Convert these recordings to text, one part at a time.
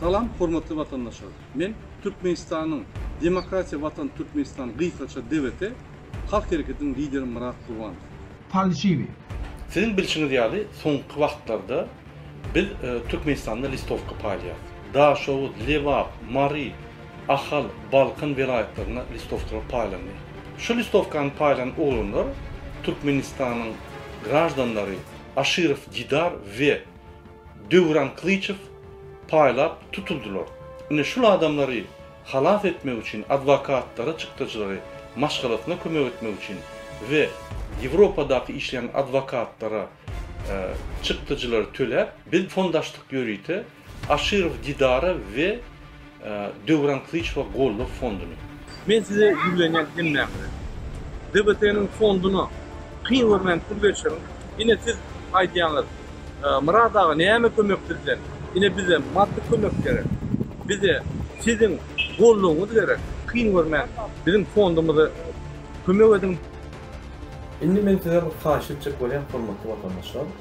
Salam hormatly watandaşlar. Men Türkmenistanyň Demokratiýa Watan Türkmenistan gysgaça DWT Halk Hereketiniň lideri Myrat Gurbanow. Falşiwi. Siziň bilşiňiz ýaly soňky wagtlarda biz Türkmenistanda listowka paýlaýas. Daşoguz, Lebap, Mary, Ahal, Balkan welaýatlarynda listowkalar paýlandy. Şu listowkany paýlan oglanlar Türkmenistanyň graždanlary Aşyrow Didar we Döwran Kylyçow paýlap tutuldylar. Ine şul adamlary halas etmek üçin adwokatlary, çykdajylary maşgalasyna kömek etmek üçin we Ýewropadaky işleýän adwokatlara çykdajylary töläp biz fondaşdyk ýörite Aşyrow Didara we Döwran Kylyçowa goldaw fonduny. Men size ýüzlenýän hemmäňize. DBT-niň fonduny kyn görmän pul berişiň. Ine siz aýdýaňyz, Myrat aga näme kömek sizden? Ine bize maddy kömek gerek. Bize siziň goldawyňyz gerek. Kyn görmän biziň fondumyza kömek ediň. Indi men sizden bir haýyş etjek bolýan hormatly watandaşlar.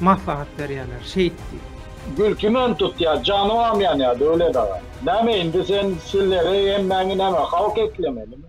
maslahat berýärler, şeýt diý. Gülki men tutýa janybam ýanýa Döwlet aga. Näme indi sen silleri hemmäňi näme halk eklemelimi.